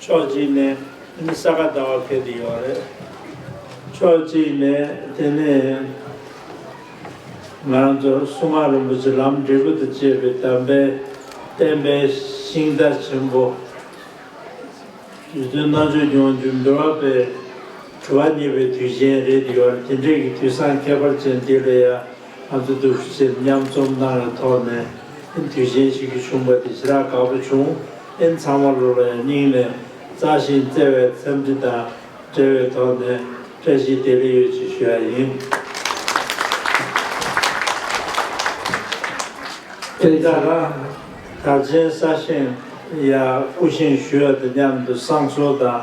ཕྱོགས་གཅིག་ནས་འདི་ནི་ས་ག་ཟླ་བ་འཁེལ་དུ་ཡོད་རེད། ཕྱོགས་གཅིག་ནས་དེ་ནི་ང་རང་ཚོ་སྲུང་མ་རིན་པོ་ཆེ་ལམ་འབྲས་བུ་དང་བཅས་པའི་དམ་པའི་བསྟན་པའི་ཤིང་རྟ་ཆེན་པོ། རི་སྟོན་རྣལ་འབྱོར་སྐྱོང་རྒྱུད་འབུལ་བ་པའི་དྲི་བ་རྙེད་པའི་དུས་ཆེན་རེད་དུ་ཡོད་རེད་དེ་འདྲས་ཀྱི་དུས་བཟང་ཁྱད་པར་ཅན་འདི་ལ་ཡང། ང་ཚོ་སྡུག་ཤུལ་ཆེད་མཉམ་རྩོམ་གནང་བའི་ཐོག་ནས་ཨིན་དུས་ཆེན་ཞིག་གི་བྱུང་བ་དེ་ཇི་ལྟར་དགའ་པོ་བྱུང་ཨིན་ཚང་མ་ལོ་ལ་ཡང་སྙིང་ནས་བརྩ་ཞིང་བརྩེ་བའི་འཚམས་འདྲི་དང་འབྲེལ་བའི་ཐོག་ནས་བཀྲ་ཤིས་བདེ་ལེགས་ཡོད་ཅེས་ཞུ་ཡ་ཡིན། དེ་ལྟར་ན་དར་ཆེན་ས་ཞིང་ཡང་སྐུ་བཞེངས་ཞུ་ཡ་དང་མཉམ་དུ་བསང་གསོལ་དང།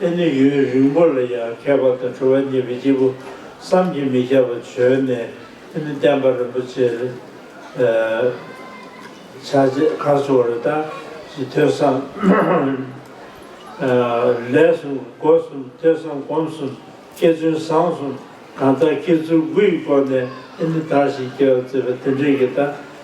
ཨེ་ནི་ཡུན་རིང་པོ་ལ་ཡང་ཁྱད་པར་དུ་འཕྲོ་བ་མྱེད་པའི་སྐྱེས་བུ་བསམ་གྱིས་མི་ཁྱབ་པ་བྱོན་ནས་ཨེ་ནི་བསྟན་པ་རིན་པོ་ཆེར་ཕྱག་རྗེས་མཁར་བཟོ་བ་རི་དྭགས་ཀྱི་ཐོས་བསམ་ལས་གསུམ་སྒོ་གསུམ་ཐོས་བསམ་སྒོམ་གསུམ་སྐྱེ་བཙུན་བཟང་གསུམ་གང་དག་སྐྱེ་ཚུལ་དགུ་ཡི་སྐོར་ནས་ཨེ་ནི་དར་ཞིང་རྒྱས་པར་མཛད་པ་དེ་འབྲེལ་གྱི་ད་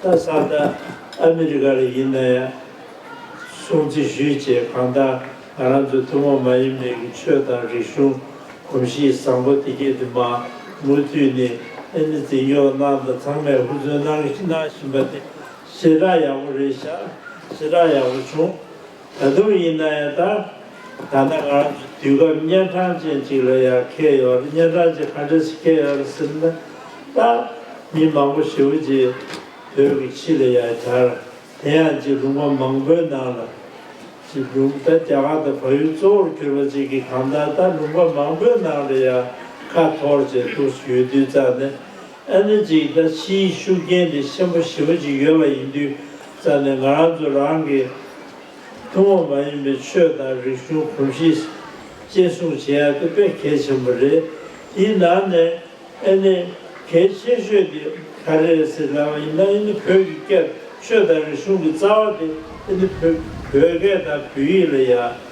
ད་ས་ད་ཨ་མི་རི་ཀ་ལ་ཡིན་ན་ཡང་སྲུང་བརྩི་ཞུས་ཅེས་གང་ལྟར་ང་རང་ཚོའི་ཐུན་མོང་མ་ཡིན་པའི་གི་ཆོས་དང་རིག་གཞུང་གོམས་གཤིས་བཟང་པོ་དེ་སྐད་དུ་མ་མུ་མཐུད་ནས་ཨེ་ནི་འཛིན་སྐྱོང་གནང་དང་ཚང་མས་ཧུར་བརྩོན་གནང་བཞིན་པ་དེ་ཞེ་དྲག་ཡག་པོ་རེད་ཤག་ཞེ་དྲག་ཡག་པོ་བྱུང། ད་དུང་ཡིན་ན་ཡང་ད་ད་ནས་ང་རང་ཚོ་དུས་སྐབས་གཉན་འཕྲང་ཅན་གཅིག་ལ་ཡང་ཁེལ་ཡོད་རེད་གཉན་འཕྲང་ཅན་ག་འདྲ་ཞིག་ཁེལ་ཡོད་རེད་ཟེར་ན། ད་མི་མང་པོ་ཞི་བ་རྗེས་བོད་ཀྱི་ཕྱི་ལ་ཡང་གྱར་དེ་ཡང་རྗེས་དྲུང་བ་མང་པོའི་ནང་ལ་རྗེས་དྲུང་ད་རྒྱ་གར་དང་བལ་ཡུལ་གཙོ་བོར་གྱུར་པ་ཅིག་གིས་གང་ལྟར་ད་དྲུང་བ་མང་པོའི་ནང་ལ་ཡང་ཁ་འཐོར་བྱས་འདུག་ཞུས་དུས་ཙང་ནས་ཨ་ནེ་ཅིག་ད་ཕྱིའི་ཤུགས་རྐྱེན་དེ་ཆེན་པོ་ཞེ་པོ་ཅིག་ཡོད་པ་ཡིན་དུས་རྩ་ནས་ང་རང་ཚོ་རང་གི་ཐུན་མོང་མ་ཡིན་པའི་ཆོས་དང་རིག་གཞུང་གོམས་གཤིས་གཅེས་སྲུང་བྱེད་ཡག་དེ་དཔེ་གལ་ཆེན་པོ་རེད། དེའི་ནང་ནས་ཨ་ནེ་གལ་ཆེ་ཤོས་དེ་ག་རེ་རེད་ཟེར་ན་ཡིན་ན་ཨ་ནེ་བོད་ཀྱི་སྐད་ཆོས་དང་རིག་གཞུང་གི་རྩ་བ་དེ་ཨ་ནེ་བོད་སྐད་དང་བོད་ཡིག་ལ་ཡག་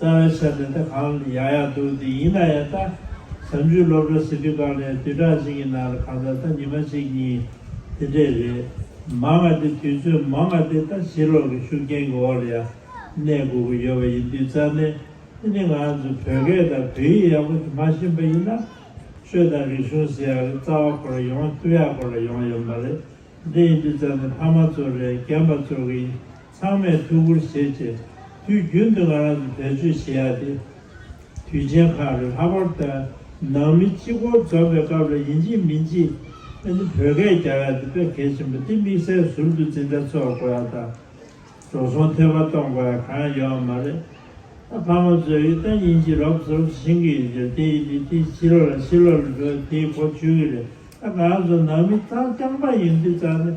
རྩ་བའི་ཆ་དེ་ད་གང་ཡག་ཡག་འདུག་འདི་ཡིན་ན་ཡང་ད་བྱམས་ཆུའི་སློབ་གྲྭ་ཟེར་དུས་བཀག་ནས་དུས་དྲག་ཅིག་གི་ནང་ལ་གང་ལྟར་ད་ཉི་མ་གཅིག་གཉིས་དེ་འདྲས་རེད་མ་ང་དེ་དུས་ཚོད་མ་ང་དེ་ད་བྱིས་སློབ་ཀྱི་ཤུགས་རྐྱེན་གྱི་འོག་ལ་ཡང་གནས་དགོས་ཀྱི་ཡོད་པ་ཡིན་དུས་རྩ་ནས་འདི་ནི་ང་ཚོ་བོད་སྐད་དང་བོད་ཡིག་ཡག་པོ་དེ་མ་ཤེས་པ་ཡིན་ན་ཆོས་དང་རིག་གཞུང་ཟེར་ཡག་རེད་རྩ་བ་གོ་ལ་ཡོངས་ཐུགས་ཡག་གོ་ལ་ཡོངས་ཡོད་མ་རེད་འདི་ཡིན་དུས་རྩ་ནས་ཕ་མ་ཚོར་རེད་རྒན་པ་ཚོར་གྱི་ཚང་མས་ཐུགས་ཁུར་བྱེད་ཆེད་དུས་རྒྱུན་དུ་ང་རང་ཚོ་བེད་སྤྱོད་བྱེད་ཡ་དེ་དུས་ཆེན་ཁག་རེད་ལྷག་པར་དུ་ནང་མི་སྤྱི་སྒོར་འཛོམས་པའི་སྐབས་རེ་ཡིན་གཅིག་མིན་གཅིག་ཨ་ནི་བོད་སྐད་རྒྱབ་ཡ་དེ་དཔེ་གལ་ཆེན་པོ་དེ་དམིགས་བསལ་ཟུར་དུ་འཛིན་གྲྭ་ཚོགས་དགོས་ཡ་དང་འགྲོ་སོང་ཐེ་བ་གཏོང་དགོས་ཡ་གང་ཡོད་ཨ་མ་རེད་ཨ་ཕ་མ་ཚོས་ཨི་ད་ཉིན་གཅིག་རོབ་ཟོབ་བཞིན་གི་ཡོད་རྒྱུ་དེ་ཨི་དེ་དེ་ཕྱི་ལོག་ལ་ཕྱི་ལོག་ལ་འགྲོ་ཡ་དེའི་གོ་ཆོད་གི་རེད་ཨ་ང་རང་ཚོ་ནང་མི་རྩ་རྐྱང་པ་ཡིན་དུས་རྩ་ནས།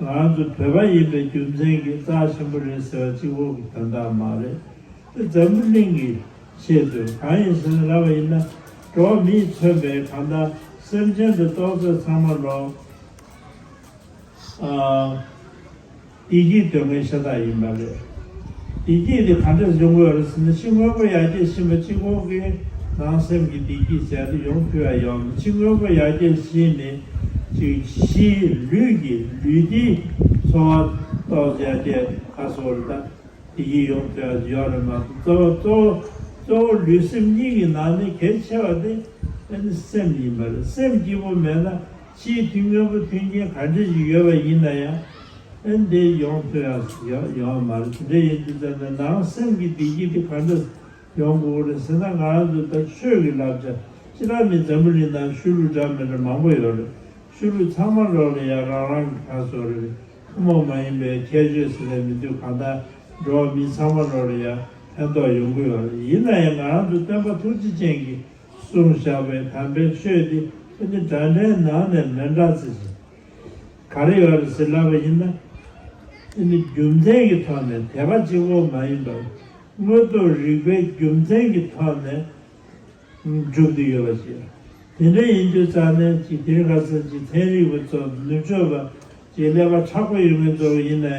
ང་ཚོ་བོད་པ་ཡིན་པའི་རྒྱུ་མཚན་གྱིས་རྩ་ཆེན་པོ་རེད་ཟེར་བ་གཅིག་འོག་གི་དོན་དག་མ་རེད་དེ་འཛམ་བུ་གླིང་གིས་ཤེས་དགོས་གང་ཡིན་ཟེར་ན་ར་བ་ཡིན་ན་འགྲོ་བ་མིས་མཚོན་པའི་གང་ལྟར་སེམས་ཅན་དུ་གཏོགས་ཚོད་ཚང་མ་ལོག་ཨ་ཡིག་གིས་འདོད་མཁན་ཤ་སྟག་ཡིན་པ་རེད། བདེ་སྐྱིད་དེ་ག་འདྲས་འབྱུང་དགོས་རེད་ཟེར་ན་ཕྱི་དངོས་པོ་ཡར་རྒྱས་ཕྱིན་པ་གཅིག་མཁོ་གི་ནང་སེམས་ཀྱི་བདེ་སྐྱིད་ཟེར་དེ་ཡོང་ཐུ་ཡ་ཡོང་གི་ཕྱི་དངོས་པོ་ཡར་རྒྱས་ཕྱིན་ནས་ཅིག་གཞིའི་ལུས་ཀྱི་ལུས་བདེའི་འཚོ་བ་ཏོག་ཙེ་ཡར་རྒྱས་ཁ་གསོ་རེད་ད་དེ་སྐྱིད་ཡོང་ཐུ་ཡ་ཡོང་རེད་མ་གཏོགས་གཙོ་བོ་གཙོ་བོ་གཙོ་བོ་ལུས་སེམས་གཉིས་ཀྱི་ནང་ནས་གལ་ཆེ་བ་དེ་ནི་སེམས་ཡིན་པ་རེད་སེམས་སྐྱིད་པོ་མེད་ན། སྤྱིའི་ཐིག་དངོས་པོ་མཐུན་རྐྱེན་ག་འདྲ་ཞིག་ཡོད་པ་ཡིན་ན་ཡང། ཨན་དེ་ཡོང་ཐུབ་ཡ་ཡོང་བ་མ་རེད་དེ་འདྲ་ཡིན་དུས་ཙམ་ན་ནང་སེམས་ཀྱི་བདེ་སྐྱིད་དེ་ག་འདྲ་ཡོང་དགོས་གོ་རེད་ཟེར་ན་ང་རང་ཚོ་ད་ཆོས་ཀྱི་ལབ་ཆ་ཅི་རང་མིན་འཛམ་བུ་གླིང་ནང་ཤུལ་ལུས་འདྲ་མི་འདྲ་མང་པོ་ཡོད་རེད་ཤུལ་ལུས་ཚང་མ་རོགས་ལས་ཡག་རང་རང་གི་ཁ་སོ་རེད་ཐུན་མོང་མ་ཡིན་པའི་ཁྱད་ཆོས་ཟེར་ལས་མི་འདུག་གང་ལྟར་འགྲོ་བ་མི་ཚང་མ་རོགས་ལས་ཡག་ཕན་ཐོག་ཡོང་གི་ཡོད་རེད་ཡིན་ན་ཡང་ང་རང་ཚོ་སྟོན་པ་ཐུགས་རྗེ་ཅན་གྱི་སུར་བཞག་པའི་དམ་པའི་ཆོས་དེ་ཨ་ནི་དགྲ་འདྲེའི་ནང་ནས་མེ་འདྲ་ཚེ་ཟིན། ག་རེ་ཡོད་རེད་ཟེར་ལབ་པ་ཡིན་ན། ཨ་ནི་རྒྱུ་མཚན་གྱི་ཐོག་ནས་དད་པ་གཅིག་བོ་མ་ཡིན་པར། དངོས་རྟོགས་རིག་པའི་རྒྱུ་མཚན་གྱི་ཐོག་ནས་སྒྲུབ་ཀྱི་ཡོད་པ་ཞིག་རེད། དེ་འདྲ་ཡིན་དུས་རྩ་གནས་ཀྱི་དེ་ག་ཚང་གཅིག་ཐེན་རིག་པ་ཚོ་ནུབ་ཕྱོགས་པ་གཅིག་ཀླད་པ་ཁྲག་པོ་ཡོད་མེད་རྫོགས་ཡིན་ནའི་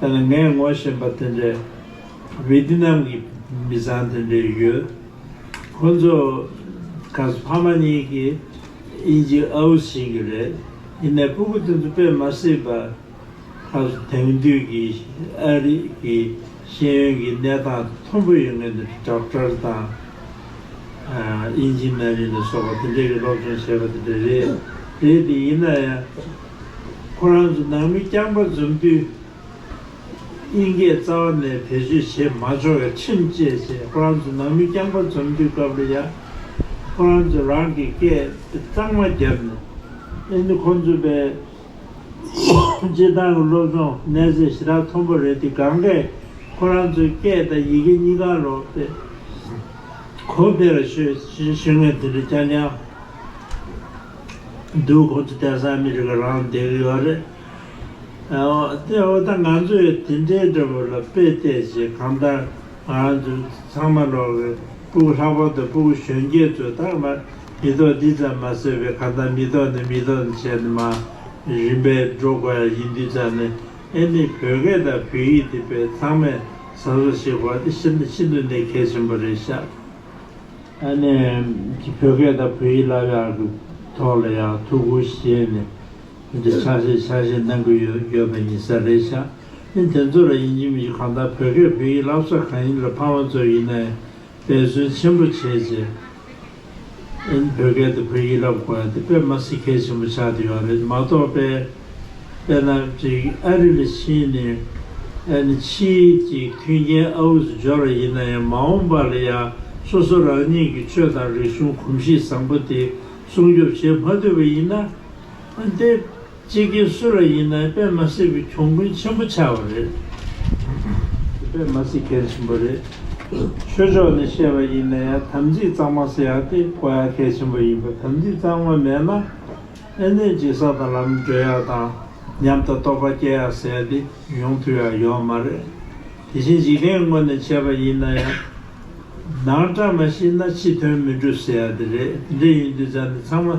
ངས་ངོ་ཤེས་པ་དེ་འདྲའི་བྷི་ཏི་ནམ་གྱི་མི་ཚང་དེ་འདྲས་ཡོད། ཁོ་ཚོ་ག་ས་ཕ་མ་གཉིས་ཀྱི་དབྱིན་ཇི་ཨའུ་ཟིན་གྱི་རེད། ཡིན་ནས་སྤུ་གུ་དེ་ཚོ་དཔེ་མ་སྲིད་པ། ག་ས་དེང་དུས་ཀྱི་ཨ་རི་གི་ཤེས་ཡོན་གྱི་གནས་སྟངས་མཐོན་པོ་ཡོད་ངེས་འདུག་དྲག་གྲར་དང། ཨིན་ཇི་ནཱ་རི་ནས་སོགས་པ་དེ་འདྲས་ཀྱི་སློབ་སྦྱོང་བྱས་པ་དེ་འདྲས་རེད། རེད་དེ་ཡིན་ན་ཡང། ཁོ་རང་ཚོ་ནང་མི་རྐྱང་པ་འཛོམས་དུས། དབྱིན་སྐད་རྩ་བ་ནས་བེད་སྤྱོད་བྱས་མ་ཆོག་ཡ་ཁྲིམས་བཅས་བྱས་ཁོ་རང་ཚོ་ནང་མི་རྐྱང་པ་འཛོམས་དུས་སྐབས་རེ་ཡ་ཁོ་རང་ཚོ་རང་གི་སྐད་གཙང་མ་རྒྱབ་ནས་ཨེ་འདི་ཁོང་ཚོ་པའི་སྤྱིར་བཏང་གི་སློབ་སྦྱོང་གནས་ཚད་ཞེ་དྲག་མཐོན་པོ་རེད་དེ་གང་གཱས་ཁོ་རང་ཚོའི་སྐད་དང་ཡི་གེ་གཉིས་ཀ་ལོག་སྟེ་གོ་བདེ་ར་ཤོད་ཞེས་ཤོད་ངེས་དེ་འདྲ་རྐྱང་རྐྱང། སྡོད་ཁོ་ཚོ་དེང་སང་མི་རིགས་ཀྱི་རང་དབང་དེ་གི་ཡོད་རེད། དེ་འོ་ད་ང་ཚོས་དེ་འདྲའི་འདྲ་པོ་ལ་དཔེ་བལྟས་ཞེས་གང་ལྟར་ང་རང་ཚོས་ཚང་མ་ལོག་གི་སྤུ་གུ་ལྷག་པ་དང་སྤུ་གུ་གཞོན་སྐྱེས་ཚོས་ད་མ་མི་ཐོག་འདི་ཙམ་མ་ཟེར་བའི་གང་ལྟར་མི་ཐོག་ནི་མི་ཐོག་ནས་བྱས་ནས་མ་རིན་པས་འགྲོ་དགོས་ཡ་ཡིན་དུས་ཙམ་ནས་ཨེ་ནི་བོད་སྐད་དང་བོད་ཡིག་འདི་བས་ཚང་མས་བཟང་བཟོ་བྱེད་དགོས་པ་འདི་ཤིན་ཏུ་ནས་གལ་ཆེན་པོ་རེད་ཤག། ཨ་ནེ་ཀྱིས་བོད་སྐད་དང་བོད་ཡིག་སླར་ཡང་གི་ཐོག་ལ་ཡང་ཐུགས་ཁུར་བཞེས་ནས་འདི་འདྲའི་ཕྱག་བཞེས་ཕྱག་བཞེས་གནང་གི་ཡོད་ཡོད་པ་ཡིན་ས་རེད་ཤག་ཨིན་དེ་ཚོ་ལ་ཡིན་གྱི་མིན་གྱི་གང་ལྟར་བོད་སྐད་བོད་ཡིག་བསླབ་ས་གང་ཡིན་ལ་ཕ་མ་ཚོ་ཡིན་ན་ཡང་འབད་བརྩོན་ཆེན་པོ་བྱས་རྗེས་ཨིན་བོད་སྐད་དང་བོད་ཡིག་བསླབ་དགོས་ཡ་དེ་དཔེ་མ་སི་ཁལ་ཆེན་པོ་ཆགས་དུ་ཡོད་རེད་མ་གཏོགས་དཔེ། དཔེར་ན་བྲིས་ཨ་རི་ལ་ཕྱིན་ནས་ཨ་ནི་ཕྱིས་ཀྱི་མཐུན་རྐྱེན་ཨ་འུ་ཚོ་སྦྱོར་བ་ཡིན་ན་ཡང་མ་འོངས་པ་ལ་ཡང་སོ་སོ་རང་ཉིད་ཀྱི་ཆོས་དང་རིག་གཞུང་གོམས་གཤིས་བཟང་པོ་དེ་སྲུང་སྐྱོབ་བྱེད་མ་འདོད་པ་ཡིན་ན། འོན་ཏེ་སྤྱི་སྒེར་སུ་ལ་ཡིན་ནའི་པད་མ་སྲིད་པའི་གྱོང་གུན་ཆེན་པོ་ཆགས་པ་རེད། པད་མ་སྲིད་མཁན་ཆེན་པོ་རེད། ཆོས་ཕྱོགས་ནས་བཤད་པ་ཡིན་ན་ཡང་དམ་ཚིག་གཙང་མ་ཟེར་ཡག་སྟེ་གོ་ཡག་གལ་ཆེན་པོ་ཡིན་པ་དམ་ཚིག་གཙང་མ་མེད་ན། ཨེ་ནས་སྦྱིན་ས་དང་ལམ་བགྲོད་ཡག་དང་ཉམས་དང་རྟོགས་པ་སྐྱེ་ཡག་ཟས་དེ་ཡོང་དུས་ཡག་ཡོད་མ་རེད། དེ་བཞིན་འཇིག་རྟེན་དངོས་ནས་བྱས་པ་ཡིན་ན་ཡང། ནང་བཀྲ་མ་ཤིས་ན་ཕྱི་དོན་མི་འགྲུབ་ཟེར་ཡག་དེ་རེད་དེ་འདྲ་ཡིན་དུས་ཚང་འདི་ཚང་མ་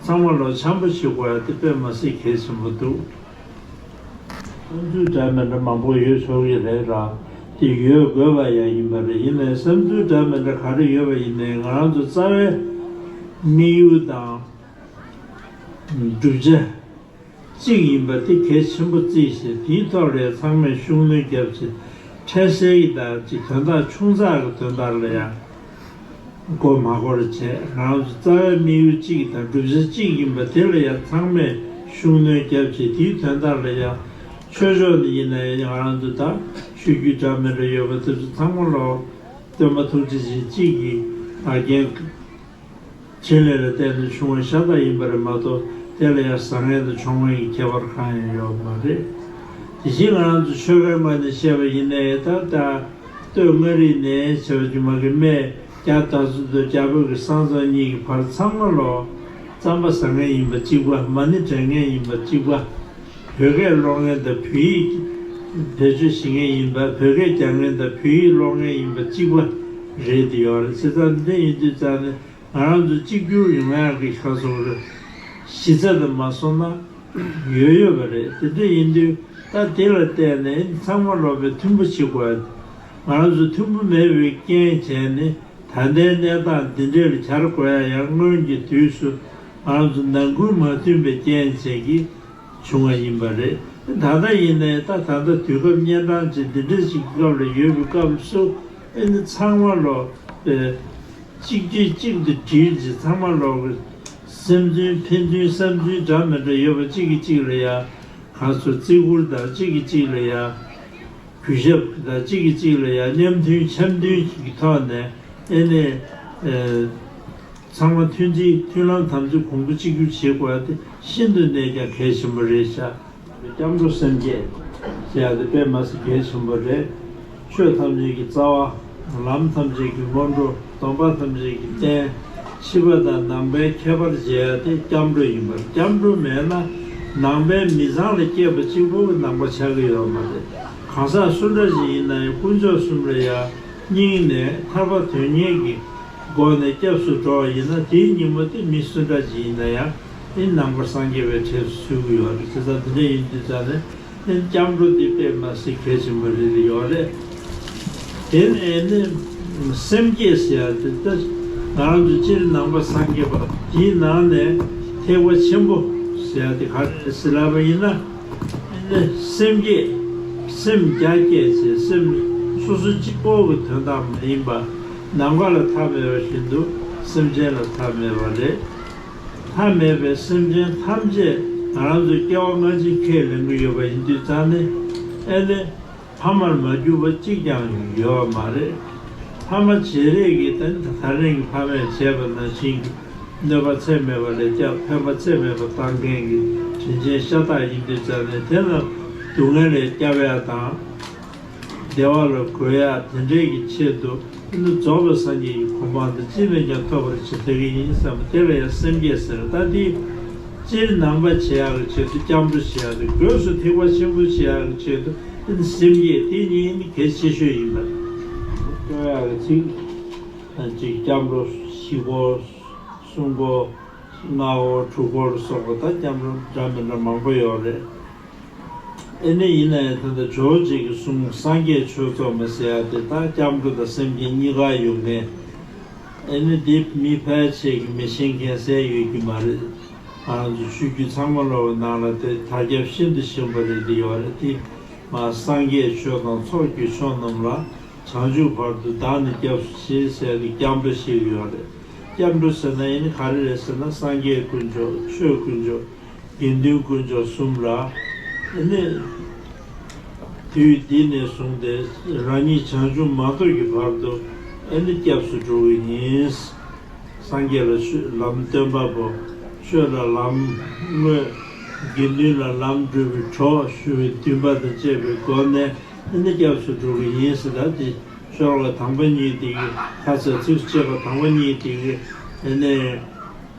ཚང་མ་ལོ་འཆམ་པོ་བྱེད་དགོས་ཡག་དེ་དཔེ་མ་སྲིད་གལ་ཆེན་པོ་འདུག། བསམ་ཚུལ་འདྲ་མི་འདྲ་མང་པོ་ཡོད་ཆོག་གི་རེད་ལ་དེ་ཡོད་དགོས་པ་ཡག་ཡིན་པ་རེད་ཡིན་ནའི་བསམ་ཚུལ་འདྲ་མི་འདྲ་ག་རེ་ཡོད་པ་ཡིན་ནའི་ང་རང་ཚོ་རྩ་བའི་དམིགས་ཡུལ་དང། བསྒྲུབ་བྱ་གཅིག་ཡིན་པ་དེ་གལ་ཆེན་པོ་བརྩི་ཞེས་དེའི་ཐོག་ལས་ཚང་མས་ཤུགས་སྣོན་བརྒྱབ་ཅིང་འཕྲལ་སེལ་གྱི་བདག་གཅེས་དོན་དག་ཆུང་ཙག་གི་དོན་དག་ལ་ཡང་མགོ་མ་འཁོར་བར་བྱས་རང་གི་རྩ་བའི་དམིགས་ཡུལ་གཅིག་དང་བསྒྲུབ་བྱ་གཅིག་ཡིན་པ་དེ་ལ་ཡང་ཚང་མས་ཤུགས་སྣོན་བརྒྱབ་ཅིང་དེའི་དོན་དག་ལ་ཡང་ཆོས་ཕྱོགས་ནས་ཡིན་ན་ཡང་རང་དུ་དག་ཤོད་རྒྱུའི་འདྲ་མིན་རེ་ཡོད་པ་དེ་ཚོ་ཚང་མ་ལ་སྟོན་པ་ཐུགས་རྗེ་ཆེ་གཅིག་གིས་བར་བརྒལ་ཕྲིན་ལས་ལ་བརྟེན་ནས་བྱུང་བ་ཤ་སྟག་ཡིན་པ་རེད་མ་གཏོགས་དེ་ལ་ཡང་བཟང་ངན་དང་ཕྱོགས་ངན་གྱི་ཁྱད་པར་གང་ཡང་ཡོད་མ་རེད། དེ་བཞིན་ང་རང་ཚོ་ཆོལ་ཁའི་དམག་ནས་བཤད་པ་ཡིན་ནའི་ད་ལྟ་སྟོད་མངའ་རིས་ནས་བྱེ་བ་ཆུང་མ་གི་སྨད་རྒྱ་དར་ཚུ་མདོ་རྒྱ་བོད་ཀྱི་སང་ཙང་གཉིས་ཀྱི་བར་ཚང་མ་ལོ་རྩམ་པ་བཟང་ངན་ཡིན་པ་གཅིག་པ་མ་ནི་དྲན་ངན་ཡིན་པ་གཅིག་པ། བོད་སྐད་ཀློག་མཁན་དང་བོད་ཡིག་བེད་སྤྱོད་བྱེད་མཁན་ཡིན་པ་བོད་སྐད་རྒྱག་མཁན་དང་བོད་ཡིག་ཀློག་མཁན་ཡིན་པ་གཅིག་པ་རེད་འདི་ཡོང་རེད་བྱེད་སྟངས་འདི་ཡིན་དུས་ཙང་ནས་ང་རང་ཚོ་གཅིག་གྱུར་ཡོང་ཡག་གི་ཁ་སོང་རེད། གཞི་རྩ་དུ་མ་སོང་ན་ཡོད་ཡོད་པ་རེད་དེ་འདྲ་ཡིན་དུས་ད་དེ་ལ་བལྟས་ནས་ཚང་མ་སློབ་པའི་མཐུན་པོ་བྱེད་དགོས་རེད། ང་རང་ཚོ་མཐུན་པོ་མེད་པའི་རྐྱེན་བྱས་ནི་ད་ལྟའི་གནས་སྟངས་འདི་འདྲའི་ལ་གྱར་དགོས་ཡ་ཡང་སྔོན་གྱི་དུས་སུ་ང་རང་ཚོ་ནང་ཁུལ་མ་མཐུན་པའི་རྐྱེན་བྱས་ཀྱི། བྱུང་བ་ཡིན་པ་རེད། ད་ལྟ་ཡིན་ནའི་ད་ད་ལྟ་དུས་སྐབས་གཉན་འཕྲང་ཅན་འདི་འདྲའི་ཞིག་གི་སྐབས་ལ་ཡོད་པའི་སྐབས་སུ། ཨེ་ནི་ཚང་མ་ལོག་པའི། གཅིག་དུས་གཅིག་ཏུ་དྲིལ་རྗེས་ཚང་མ་ལོག་པའི། སེམས་འདུན་ཕན་འདུན་བསམ་ཚུལ་འདྲ་མི་འདྲ་ཡོད་པ་གཅིག་གིས་གཅིག་ལ་ཡ། ག་ཚོད་བརྩི་བཀུར་ལྟར་གཅིག་གིས་གཅིག་ལ་ཡ། གུས་ཞབས་ལྟར་གཅིག་གིས་གཅིག་ལ་ཡ་མཉམ་མཐུན་འཆམ་མཐུན་ཞིག་གི་ཐོག་ནས་ཨེ་ནི། ཚང་མ་མཐུན་སྒྲིལ་མཐུན་ལམ་དམ་ཚིག་གོང་བུ་གཅིག་གྱུར་བྱེད་དགོས་པ་དེ་ཤིན་ཏུ་ནས་ཀྱང་གལ་ཆེན་པོ་རེད་བྱ། སྐྱབས་འགྲོ་སེམས་བསྐྱེད་ཅེས་ཡག་དེ་དཔེ་མ་ཟད་གལ་ཆེན་པོ་རེད། ཆོས་ཐམས་ཅད་ཀྱི་རྩ་བ། ལམ་ཐམས་ཅད་ཀྱི་སྔོན་འགྲོ་སྡོམ་པ་ཐམས་ཅད་ཀྱི་རྟེན། ཕྱི་པ་དང་ནང་པའི་ཁྱད་པར་འབྱེད་ཡག་དེ་སྐྱབས་འགྲོ་ཡིན་པར་སྐྱབས་འགྲོ་མེད་ན། ནང་པའི་མི་བཟང་ལ་སྐྱེས་པ་གཅིག་པོ་གི་ནང་པ་ཆགས་ཀྱི་ཡོད་མ་རེད། གང་ཟག་སུ་འདྲ་ཞིག་ཡིན་ན་ཡང་དཀོན་མཆོག་གསུམ་ལ་ཡང་སྙིང་ནས་ཐར་པ་དོན་གཉེར་གྱི། སྒོ་ནས་སྐྱབས་སུ་འགྲོ་བ་ཡིན་ན་དེའི་ཉིན་མོ་དེ་མི་སུ་འདྲ་ཅིག་ཡིན་ན་ཡང་ཨིན་ནང་པར་སངས་རྒྱས་པའི་གྲས་སུ་ཞུགས་གི་ཡོད་རེད་དེ་ཙང་དེ་འདྲ་ཡིན་དུས་ཙང་ནས་ཨིན་སྐྱབས་འགྲོ་འདི་དཔེ་མ་སྲིད་གལ་ཆེན་པོ་རེད་ཡོད་རེད། དེ་ནས་ཨིན་སེམས་བསྐྱེད་ཟེར་ཡ་དེ་ལྟར་ང་རང་ཚོ་སྤྱིར་ནང་པ་སངས་རྒྱས་པ་དེའི་ནང་ནས་ཐེག་པ་ཆེན་པོ་ཟེར་ཡ་དེ་ག་རེ་རེད་སེ་ལབ་པ་ཡིན་ན་ཨིན་སེམས་བསྐྱེད་སེམས་རྒྱ་བསྐྱེད་ཅེས་སེམས་སོ་སོ་གཅིག་པོ་གི་དོན་དག་མ་ཡིན་པ། ནམ་མཁའ་ལ་མཐའ་མེད་པ་བཞིན་དུ་སེམས་ཅན་ལ་མཐའ་མེད་པ་རེད། མཐའ་མེད་པའི་སེམས་ཅན་ཐམས་ཅད་ང་རང་ཚོའི་སྐྱེ་བ་སྔ་ཕྱི་ཁས་ལེན་གྱི་ཡོད་པ་ཡིན་དུས་ཙང་ནི་ཨེ་ལེ། ཕ་མར་མ་གྱུར་པ་གཅིག་ཀྱང་ཡོད་བ་མ་རེད། ཕ་མ་བྱེད་རེས་ཀྱི་ད་རིང་གི་ཕ་མས་བྱས་པ་ནང་བཞིན་གྱི་གནོད་པ་ཚད་མེད་པ་ལས་སྐྱབས་ཕན་པ་ཚད་མེད་པ་བཏང་མཁན་གྱི་དྲིན་ཅན་ཤ་སྟག་ཡིན་དུས་ཙང་ནི་དེ་རྣམས་སྡུག་བསྔལ་ལས་སྐྱབས་ཡ་དང། བདེ་བ་ལ་གོལ་ཡ་དེ་འདྲའི་གི་ཆེད་དུ་ཨིན་དུ་རྫོགས་པའི་སངས་རྒྱས་ཀྱི་གོ་འཕང་འདི་ཅིས་ནས་ཀྱང་ཐོབ་པར་བྱེད་ཐལ་གི་ཡིན་བསམ་པ་དེ་ལ་ཡང་སེམས་བསྐྱེད་ཟེར་ལྟ་དེའི་སྤྱིར་ནང་པ་བྱེད་ཡ་གི་ཆེད་དུ་སྐྱབས་འགྲོ་བྱེད་ཡ་དེ་སྒོས་སུ་ཐེག་པ་ཆེན་པོ་བྱེད་ཡ་གི་ཆེད་དུ་ཨིན་སེམས་བསྐྱེད་དེ་གཉིས་ཨིན་གལ་ཆེ་ཤོས་ཡིན་པ། སྤྲོ་ཡ་གི་ཚིག། གཅིག་སྐྱབས་འགྲོ་བཞི་སྒོ། གསུམ་སྒོ། ལྔ་སྒོ་དྲུག་སྒོ་ལ་སོགས་པ་དང་སྐྱབས་འགྲོ་འདྲ་མི་འདྲ་མང་པོ་ཡོད་རེད། ཨེ་ནི་ཡིན་ན་ཡང་དེ་འདྲ་ཇོ་བོ་རྗེས་ཀྱི་གསུང་སངས་རྒྱས་ཆོས་ཚོགས་མི་ཟེར་ཡ་དེ་དག་སྐྱབས་མགོན་དང་སེམས་ཅན་གཉིས་ཀ་ཡོད་ངེས། ཨེ་ནི་འདི་མི་ཕལ་ཆེར་གྱི་མི་ཤེས་མཁན་གསལ་ཡོད་ཀྱི་མ་རེད། རང་ཚོ་ཆོས་བརྒྱུད་ཚང་མ་ལོག་པའི་ནང་ལ་དེ་དར་ཁྱབ་ཤིན་ཏུ་ཞིམ་པོ་རེད་འདི་ཡོག་རེད་དེ་མ་སངས་རྒྱས་ཆོས་དང་ཚོགས་བརྒྱུད་ཆོས་རྣམས་ལ་བྱང་ཆུབ་བར་དུ་བདག་ནི་སྐྱབས་སུ་མཆི་ཟེར་གི་སྐྱབས་འགྲོ་ཞིག་ཡོད་རེད་སྐྱབས་འགྲོ་ཟེར་ན་ཨེ་ནི་ག་རེ་རེད་ཟེར་ན་སངས་རྒྱས་དཀོན་མཆོག་ཆོས་དཀོན་མཆོག། དགེ་འདུན་དཀོན་མཆོག་གསུམ་ལ་གནས། དུས་འདི་ནས་བཟུང་སྟེ་རང་ཉིད་བྱང་ཆུབ་མ་ཐོབ་ཀྱི་བར་དུ་སྐྱབས་སུ་འགྲོ་བའི་ཉིན། སངས་རྒྱས་ལ་ཆོས་ལམ་སྟོན་པ་པོ། ཆོས་ལ་ལམ་དངོས། དགེ་འདུན་ལ་ལམ་བགྲོད་པའི་གྲོགས་ཞུ་བའི་འདུན་པ་དང་བཅས་པའི་སྒོ་ནས་སྐྱབས་སུ་འགྲོ་བའི་ཉིན་ཟེར་ད་དེ་ཤོར་བ་དང་པོ་གཉིས་དེ་ཡི་ཁ་ཚ་ཚིགས་སུ་བཅད་པ་དང་པོ་གཉིས་དེ་ཡི།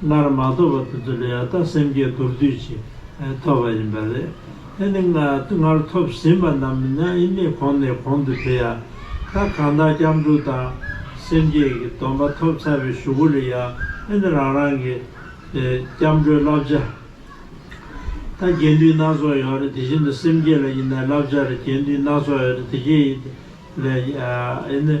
སྔར་མ་ཐོབ་པ་དེ་ཚོ་ལས་ད་ལྟ་སེམས་བསྐྱེད་མདོར་བསྡུས་ཀྱིས་ཐོབ་པ་ཡིན་པ་རེད། དེ་ནི་སྔར་ཐོབ་ཟིན་པ་རྣམས་ནི་ཨེ་ནས་གོང་ནས་གོང་དུ་འཕེལ་ཡ། ད་གང་དག་སྐྱབས་འགྲོ་དང། སེམས་བསྐྱེད་ཀྱི་སྡོམ་པ་ཐོབ་ཚར་བའི་ཞུ་གུ་རེད་ཡ། ཨེ་ནས་རང་རང་གི། སྐྱབས་འགྲོའི་བསླབ་བྱ། ད་རྒྱས་འདུས་སྣ་ཚོགས་ཡོད་རེད་དེ་བཞིན་དུ་སེམས་བསྐྱེད་ལ་ཡིན་ན་བསླབ་བྱ་རེད་རྒྱས་འདུས་སྣ་ཚོགས་ཡོད་རེད་དེ་རྒྱས་ཡིན། ཨེ་ནས།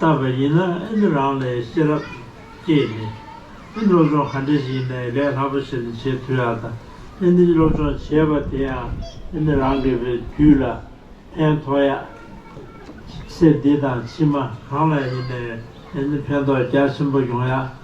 བཏབ་པ་ཡིན་ན་ཨེ་འདི་རང་ལས་ཤེས་རབ་སྐྱེས་ནས། ཨེ་སློབ་སྦྱོང་ག་འདྲས་ཞིག་ཡིན་ན་ཡང་ལས་སླ་པོ་ཞིག་ལ་བྱེད་ཐུ་ཡ་ད། ཨེ་འདི་སློབ་སྦྱོང་བྱེད་པ་དེ་ཡང་ཨེ་འདི་རང་གི་བའི་དུས་ལ་ཕན་ཐོག་ཡ། སེ་འདི་དང་ཕྱི་མ་གང་ལ་ཡིན་ན་ཡང་ཨེ་འདི་ཕན་ཐོག་རྒྱ་ཆེན་པོ་ཡོང་ཡ།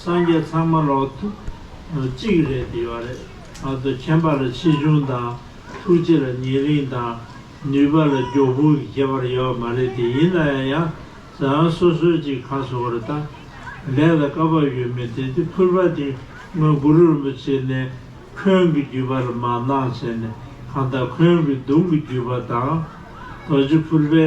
སངས་རྒྱས་ཚང་མ་ལོག་ཐུག་གཅིག་རེད་དེ་བ་རེད་ཨ་ཚོ་མཁྱེན་པ་ལ་ཆེ་ཆུང་དང་ཐུགས་རྗེ་ལ་ཉེ་རིང་དང་ནུས་པ་ལ་མགྱོགས་ཕུག་གི་ཁྱད་པར་ཡོད་མ་རེད་དེ་ཡིན་ན་ཡང་ཡང་ཟའང་སོ་སོའི་ཅིག་ག་སོ་བར་ལྟ་ལས་ལ་བཀའ་བབས་ཡོད་མེད་དེ་དེ་ཕུར་པ་དེ་སྔོན་གུ་རུ་རིན་པོ་ཆེ་ནས་ཁོན་གི་བརྒྱུད་པ་ལ་མ་གནང་བྱས་ནས་གང་ལྟར་ཁོན་གི་གདུང་གི་བརྒྱུད་པ་དང་རྡོ་རྗེ་ཕུར་པའི།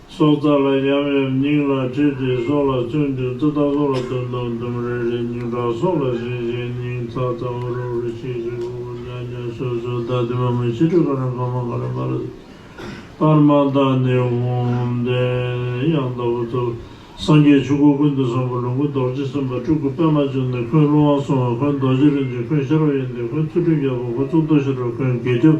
སྲོག་རྩ་ལ་ཡབ་ཡབ་སྙིང་ལ་བྲིས་ཏེ་སྲོག་ལ་བཙུན་བདུན་ཙི་ཏག་སྲོག་ལ་དུམ་དང་དུམ་རེ་རེ་སྙིང་ཁྲག་སྲོག་ལ་ཟིན་བཞིན་སྙིང་ཚ་ཚ་འུར་འུར་ཤིག་ཤིག་འུར་འུར་ཉག་ཉག་སོད་སོད་བདག་དེ་མ་མོའི་ཕྱི་དྲོད་ཀ་རང་ཀ་མ་ཀ་རང་ཀ་ར་སྤར་མ་དག་ནི་འོང། བདེ་གཡང་ལྟ་བུ་ཚུལ་སངས་རྒྱས་ཆོས་སྐུ་ཀུན་ཏུ་བཟང་པོ་ལོངས་སྐུ་རྡོ་རྗེ་སེམས་དཔའ་སྤྲུལ་སྐུ་པདྨ་འབྱུང་གནས་འཁོན་ཀླུ་དབང་སྲུང་བ་འཁོན་རྡོ་རྗེ་རིན་ཆེན་འཁོན་ཤ་རོག་ཡེ་འདས་འཁོན་ཚུལ་ཁྲིམས་རྒྱལ་པོ་འཁོན་གཙུག་ཏོར་ཤ་ཁྲག་འཁོན་དགེ་སྐྱབས།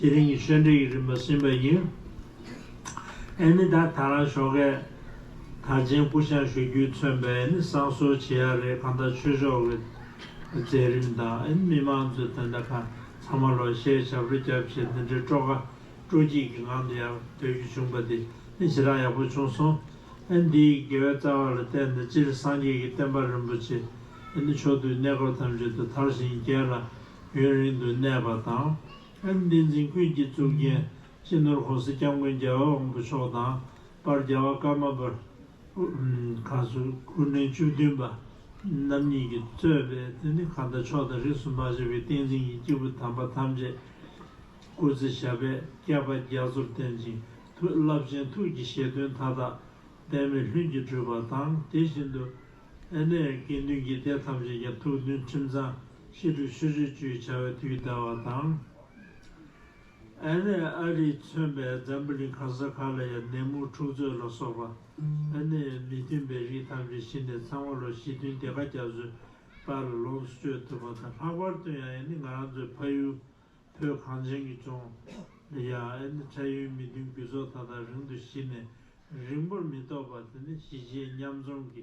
དེ་རིང་གི་ཤོད་འབྲེལ་གྱི་རིམ་པ་ཟིན་པ་ཡིན། ཨེ་ནི་ད་ད་རང་ཞོགས་ཀས། ད་ཅན་སྐུ་བཤངས་ཞུ་རྒྱུས་མཚོན་པས་ཨེ་ནི་བསང་གསོལ་བྱེད་ཡག་རེད་གང་ལྟར་ཆོས་ཕྱོགས་ཀྱི་མཛད་རིམ་དང་ཨེ་ནི་མི་མང་ཚོའི་དོན་དག་གང་ཚང་མ་ལོ་ཤས་ཞབས་རོ་རྒྱབ་བྱས་འདི་འདྲའི་སྤྲོ་དགའ་སྤྲོ་སྐྱིད་ཀྱི་ངང་དུ་ཡར་སྡོད་རྒྱུ་བྱུང་པ་དེ་ནི་ཇི་ལྟར་ཡག་པོ་བྱུང་སོང། ཨེ་ནི་འདིའི་དགེ་བའི་རྩ་བ་ལ་བརྟེན་ནས་སྤྱིར་སངས་རྒྱས་ཀྱི་བསྟན་པ་རིན་པོ་ཆེ་ཨེ་ནི་མཆོག་དུས་གནས་སྐབས་ཐམས་ཅད་དུ་དར་ཞིང་རྒྱས་ལ། ཡུན་རིང་དུ་གནས་པ་དང། ཨེམ་བསྟན་འཛིན་ཀུན་གྱི་གཙུག་རྒྱན་སྤྱི་ནོར་ཧོར་སེར་སྐྱབས་མགོན་རྒྱལ་བ་དབང་པོ་མཆོག་དང་པར་རྒྱལ་བ་ཀརྨ་པར། ཁང་སུ་ཀུན་ནས་བཅུ་བདུན་པ། རྣམ་གཉིས་ཀྱིས་གཙོས་པའི་དེ་ནི་གང་དག་ཕྱོགས་དང་རིགས་སུ་མ་ཆད་པའི་བསྟན་འཛིན་གྱི་སྐྱེས་བུ་དམ་པ་ཐམས་ཅད། སྐུ་ཚེ་ཞབས་པད་བསྐལ་པ་རྒྱ་མཚོར་བརྟན་ཅིང་མཐུ་རླབས་ཅན་ཐུགས་ཀྱི་བཞེད་དོན་མཐའ་དག་འབད་མེད་ལྷུན་གྱིས་འགྲུབ་པ་དང་དེ་བཞིན་དུ། ཨ་ནེ་ཀེ་འདུན་གྱི་སྡེ་ཐམས་ཅད་ཀྱང་ཐུགས་འདུན་ཁྲིམས་གཙང། ཕྱི་དྲོ་ཆུ་རེ་བཅུའི་བྱ་བའི་དུས་ཟླ་བ་དང། ཨན་རས་ཨ་རིས་མཚོན་པའི་འཛམ་བུ་གླིང་ག་ས་ག་ལ་ཡ་ནད་མུག་འཁྲུག་རྩོད་ལ་སོགས་པ་ཨ་ནེ་མི་མཐུན་པའི་རིགས་ཐམས་ཅད་ཞི་ནས་ཚང་བ་ལོ་ཞེ་བདུན་བདེ་དགའ་རྒྱ་མཚོའི་བར་ལ་ལོངས་སུ་སྤྱོད་ཐུབ་པ་དང་ལྷག་པར་དུ་ཡང་ཨ་ནེ་ང་རང་ཚོའི་ཕ་ཡུལ་བོད་གངས་ཅན་གྱི་ལྗོངས་ལ་ཡང་ཨ་ནེ་ཁྲལ་ཡོད་མི་མཐུན་རྒྱུ་ཚོགས་ད་ལྟ་རིང་དུ་ཞི་ནས་རིང་པོར་མི་ཐོགས་པ་དེ་ནི་གཞིས་བྱེས་མཉམ་འཛོམས་ཀྱི